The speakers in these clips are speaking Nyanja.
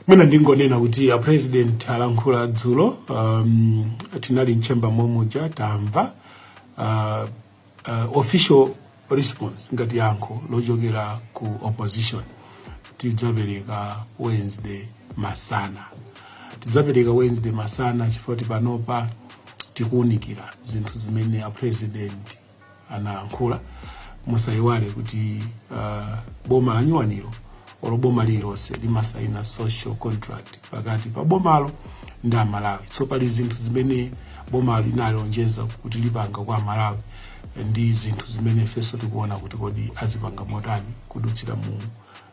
Mwina ndingonena kuti a president alankhula dzulo um, tinali mchemba momuja tamva uh, uh, official response ngati yankho lochokera ku opposition tidzapereka Wednesday masana tidzapereka Wednesday masana chifukwa panopa tikuunikira zinthu zimene a president anayankhula. Musaiwale kuti uh, boma lanyuwanilo olo boma lililonse limasaina social contract pakati pa bomalo ndi amalawi so pali zinthu zimene boma linalonjeza kuti lipanga kwa amalawi ndi zinthu zimene ifenso tikuona kuti kodi azipanga motani kudutsira mu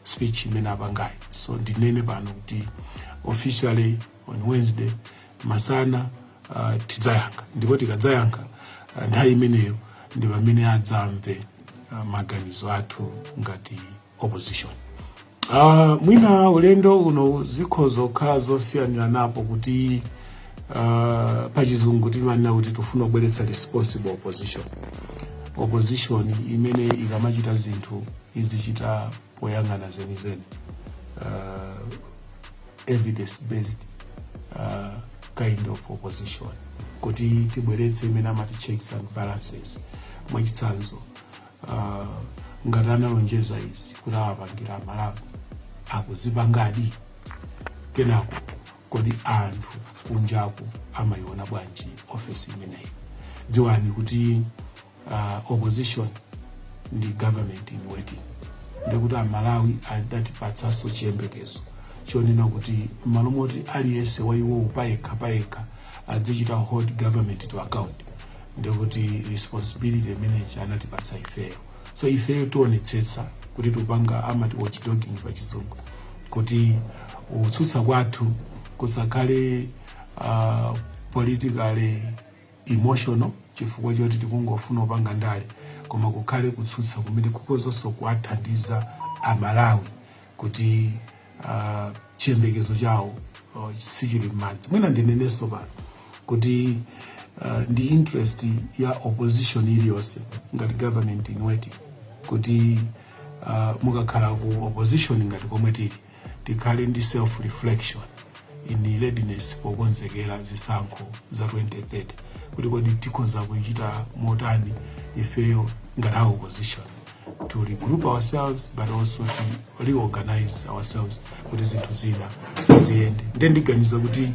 speech imene apangayi so ndinene pano kuti officially on wednesday masana uh, tidzayankha ndipo tikadzayankha uh, nthawi imeneyo ndi pamene adzamve uh, maganizo athu ngati opposition uh, mwina ulendo uno zikhoza kukhala zosiyaniranapo kuti uh, pachizungu timanena kuti tifuna kubweretsa responsible opposition opposition imene ikamachita zinthu izichita poyang'ana zenizeni uh, evidence based uh, kind of opposition kuti tibweretse imene amati checks and balances mwachitsanzo uh, ngati analonjeza izi kuti awapangira amalawi akuzipangadi kenako kodi anthu kunjaku amayiona bwanji office imeneyi dziwani kuti uh, opposition ndi government in waiting ndikuti amalawi adatipatsanso chiyembekezo chonena kuti mmalo moti aliyense wa iwowo payekha payekha adzichita hold government to account ndikuti responsibility imene anatipatsa ifeyo so ifeyo tionetsetsa kuti tupanga amati watchdogging pa chizungu kuti kutsutsa kwathu kusakhale uh, politically emotional chifukwa choti tikungofuna upanga ndale koma kukhale kutsutsa kumene kukhozanso kuwathandiza amalawi kuti uh, chiyembekezo chawo uh, sichili m'madzi mwina ndinenenso pano kuti uh, ndi interest ya opposition iliyonse ngati government in waiting kuti uh, mukakhala ku opposition ngati komwe tili tikhale ndi self reflection in readiness pokonzekera zisankho za 2030 kuti kodi tikhoza kuchita motani ifeyo ngati a opposition to regroup ourselves but also to reorganize ourselves kuti zinthu zina ziyende nde ndiganiza kuti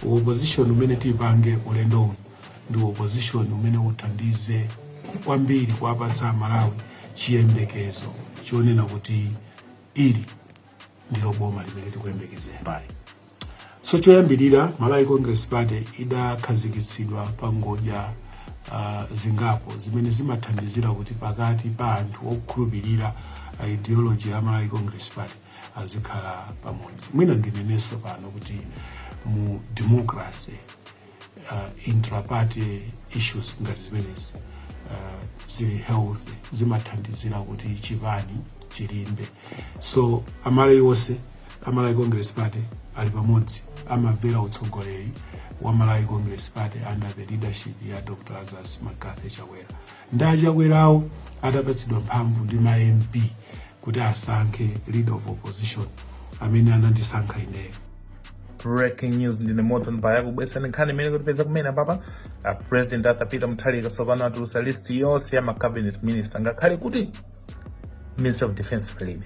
uopposition umene tipange ulendo uno ndi uopposition umene uthandize kwambiri kuwapatsa amalawi chiyembekezo chonena kuti Ili ndilo boma limene tikuyembekezera pali so choyambirira Malawi Congress Party idakhazikitsidwa pa ngodya uh, zingapo zimene zimathandizira kuti pakati pa anthu okhulupirira uh, ideology ya Malawi Congress Party azikhala pamodzi. Mwina ndinenenso pano kuti mu democracy uh, intraparty issues ngati zimenezi uh, zili healthy zimathandizira kuti chipani chilimbe so amalawi onse amalawi congress party ali pamodzi amamvera utsogoleri wa malawi congress party under the leadership ya dr lazarus mccarthy chakwera Nde achakwerawo adapatsidwa mphamvu ndi ma MP kuti asankhe leader of opposition amene anandisankha ineyo. Breaking news ndine Morton Mbaya kubweretsa nkhani imene ikutipeza kumene apapa a president Arthur Peter Mutharika tsopano atulutsa list yonse ya ma cabinet minister ngakhale kuti Minister of Defense palibe.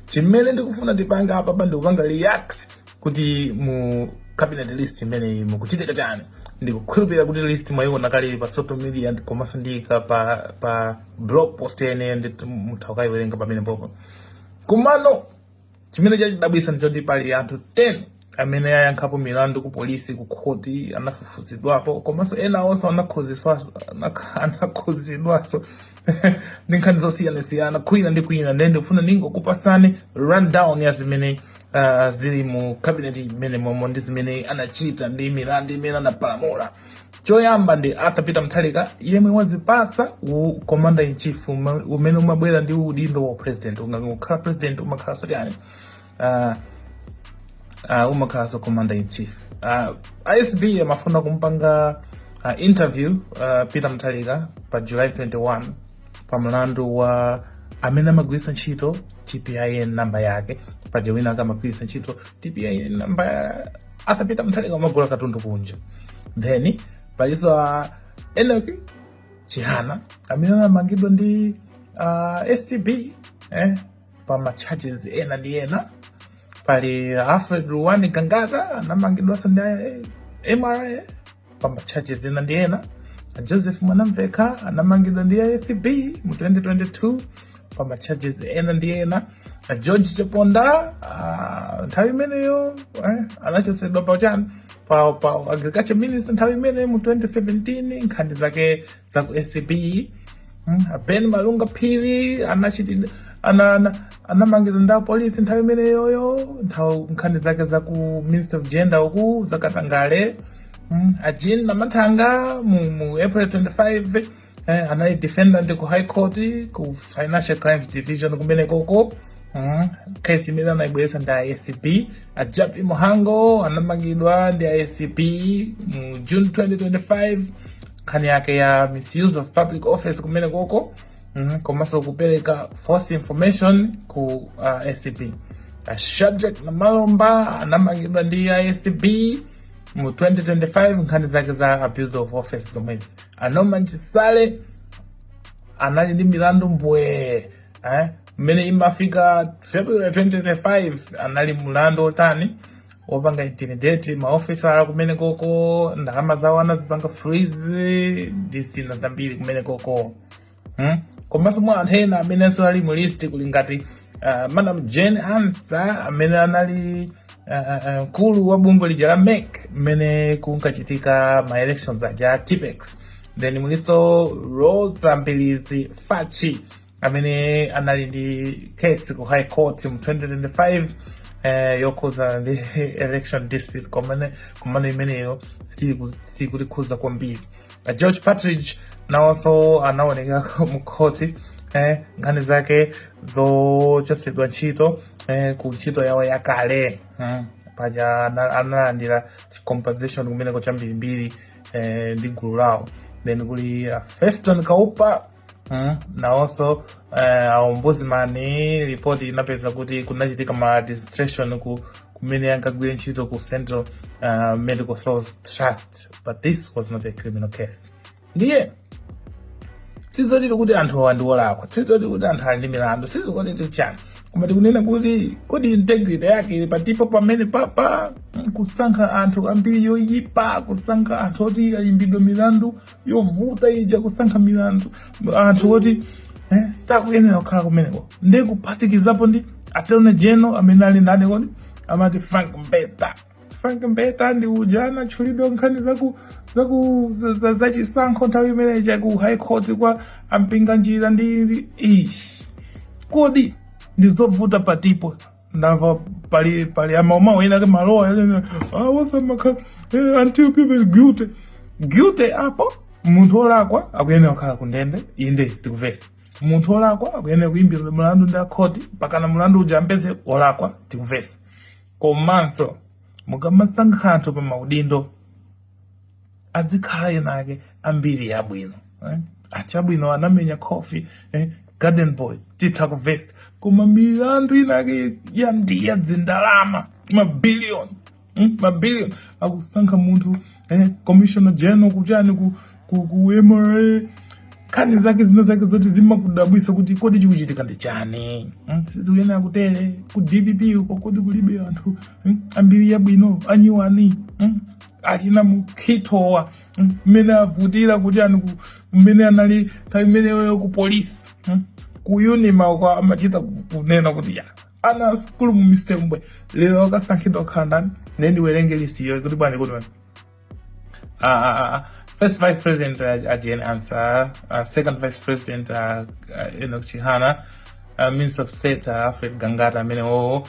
Chimene ndikufuna ndipanga apapa ndikupanga react kuti mu cabinet list imeneyi mukuchitika chani ndikukhulupirira kuti list mwayiona kale pa social media ndi- komanso ndi ka- pa pa blog post yene ndi mutha kukayiwerenga pamene popo kumano chimene chandidabwitsa ndichoti pali anthu 10 amene ayankhapo milandu ku polisi ku khoti anafufuzidwapo komanso ena onse anakhuzidwaso anakhuzidwaso ndi nkhani zosiyanasiyana kwina ndi kwina nde ndikufuna ndingokupasani rundown ya zimene uh, zili mu cabinet imene momo ndi zimene anachita ndi milandu imene anapalamula choyamba ndi Arthur Peter Mutharika yemwe wazipasa u commander in chief umene umabwera ndi udindo wa president ukakhala president umakhalaso tani uh, ah, uh, ah, umakhalaso commander in chief uh, ACB amafuna kumpanga uh, interview uh, Peter Mutharika pa July 21 pa mlandu wa amene amagwiritsa ntchito tpin namba yake paja wina ake amagwiritsa ntchito tpin namba ya- arthur peter mutharika amagula katundu kunja then palinso a enock chihana amene anamangidwa ndi uh, acb eh, pa ma charges ena ndi ena pali alfred ruwani gangata anamangidwanso ndi eh, mra pa ma charges ena ndi ena a joseph mwanamvekha anamangidwa ndi acb mu 2022 pa ma charges ena ndi ena a george chaponda ah, nthawi imeneyo eh, anachosedwa pa chani pa, pa agriculture minister nthawi imeneyo mu 2017 nkhani zake za ku acb mm, ben malunga phiri anachitidwa ana, ana, anamangidwa ndi apolisi nthawi imeneyoyo nthawi nkhani zake za ku ministry of gender uku zakatangale mm, a jean namathanga mu, mu april 25 eh, anali defendant ku high court ku financial crimes division kumenekoko mm, kesi imene anayibweretsa ndi acb a jappie mhango anamangidwa ndi acb mu june 2025 nkhani yake ya misuse of public office kumenekoko mm, komanso kupereka false information ku uh, acb uh, shadrack namalomba anamangidwa ndi acb mu 2025 nkhani zake za abuse of office zomwezi a norman chisale anali ndi milandu mbwe eh? mmene imafika february 2025 anali mulandu otani wopanga intimidate maofisala kumenekoko ndalama zawo anazipanga freeze ndi zina zambiri kumenekoko hmm? komanso mwa anthu ena amenenso ali mu list kuli ngati uh, madam Jane Ansah amene anali mkulu uh, uh, uh, wa bungwe lija la MEC mmene kunkachitika ma elections aja Tippex then mulinso Roza Mbilizi Fachi amene anali ndi case ku high court mu 2025 eh, yokhuza ndi election dispute komane komano imeneyo siku- sikutikhuza kwambiri Eh, george partridge nawonso anaoneka mu khoti eh, nkhani zake zochotsedwa ntchito eh, ku ntchito yawo yakale mm. paja ana- analandira compensation kumeneko chambirimbiri eh, ndi gulu lawo then kuli uh, feston kaupa Mm, nawonso uh, eh, ombudsman ripoti inapeza kuti kunachitika maladministration ku kumene ankagwira ntchito ku Central uh, Medical Stores Trust but this was not a criminal case ndiye sizoti kuti anthu awa ndi olakwa sizoti kuti anthu ali ndi milandu sizoti kuti chani koma tikunena kuti kodi integrity yake ili patipo pamenepapa kusankha anthu a mbiri yoyipa kusankha anthu oti ayimbidwe milandu yovuta ija kusankha milandu anthu oti eh, sakuyenera kukhala kumeneko ndi kuphatikizapo ndi attorney general amene ali ndani kodi amati frank mbeta frank mbeta ndi uja anatchulidwa nkhani zaku zaku za- za- zachisankho nthawi imene ija ku high court kwa a mpinganjira ndi ndi- ish kodi ndi zovuta patipo ndamva pali pali amauma ena ake malowa awosamakha ah, eh, until proven guilty guilty apo munthu olakwa akuyenera kukhala ku ndende inde tikumvetsa munthu olakwa akuyenera kuyimbidwa mulandu ndi akhoti pakana mulandu uja ampeze olakwa tikumvetsa komanso mukamasankha anthu pa maudindo adzikhala enaake ambiri yabwino eh? achabwino anamenya coffee eh? garden boy titha kuvesa koma milandu inake yakudya zindalama mabiliyoni hmm? mabiliyoni akusankha munthu eh? commissioner general kuchani ku, ku, ku mra nkhani zake zina zake zoti zimakudabwisa kuti kodi chikuchitika ndi chani hmm? sizikuyenera kutere ku dpp uko kodi kulibe anthu hmm? ambiri yabwino anyuwani hmm? achina Mukhitowa mmene avutira kuchani mmene anali nthawi imeneyoyo ku polisi hmm? ku unima uko amachita kunena kuti ya ana asukulu mu misembwe lero akasankhidwa kukhala ndani nde ndiwerenge list iyo kuti bwanji kuti bwanji ah, ah, ah, ah. first vice president uh, uh, Jane Ansah, uh, second vice president uh, uh, Enoch Chihana, uh, minister of state uh, Alfred Gangata amene wowo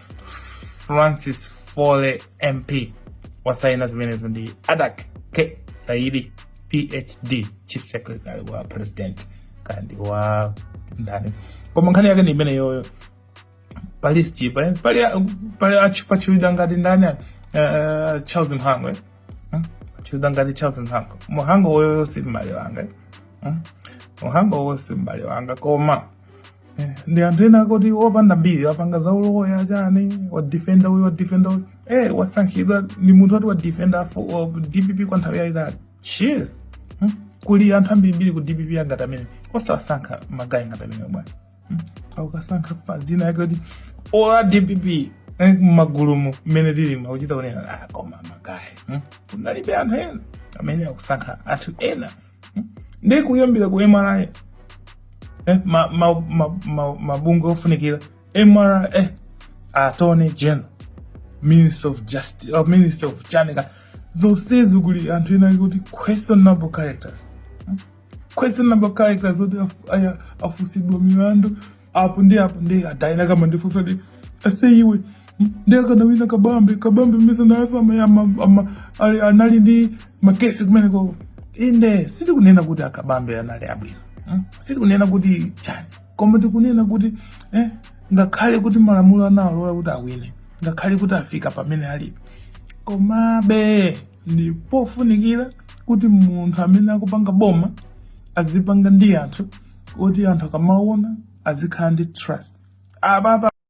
Francis Foley MP wasaina zimenezo ndi Adak K Saidi PhD Chief Secretary wa President kandi wa ndani koma nkhani yake ndi imeneyoyo pa list pali pali pali akutchulidwa ngati ndani uh, Charles Mhango eh? hmm? atchulidwa ngati Charles Mhango Mhango woyo si m'bale wanga eh? hmm? Mhango woyo si m'bale wanga koma Eh, ndi anthu ena akoti opanda mbiri apanga za uloya chani wadifenda uyu wadifenda uyu eh, wasankhidwa ndi munthu oti wadifenda dpp kwa nthawi yayitali cheers hmm? kuli anthu ambirimbiri ku dpp angati amene osawasankha magayi ngati amene bwana hmm? akasankha pa dzina yake kuti aa dpp eh, mmagulumu mmene tili mukuchita kunena ah, koma magayi hmm? kunalibe anthu ena amene akusankha anthu ena hmm? ndi kuyambira ku mra eh, mabungwe ofunikira mra eh, attorney general minister of justice or uh, minister of chani kaya zonsezi kuli anthu ena akuti questionable characters hmm? questionable characters oti afunsidwa milandu apo ndi apo ndiye a Dyna akumandifunsa kuti ase iwe nde akanawina kabambe kabambe mesa nawonso ama- ama- ama- ali- anali ndi makesi kumenekoko inde sitikunena kuti akabambe anali abwino mm? sitikunena kuti chani koma tikunena kuti eh, ngakhale kuti malamulo analola kuti awine ngakhale kuti afika pamene alipo komabe ndi pofunikira kuti munthu amene akupanga boma azipanga ndi anthu oti anthu akamaona azikhala ndi trust ababa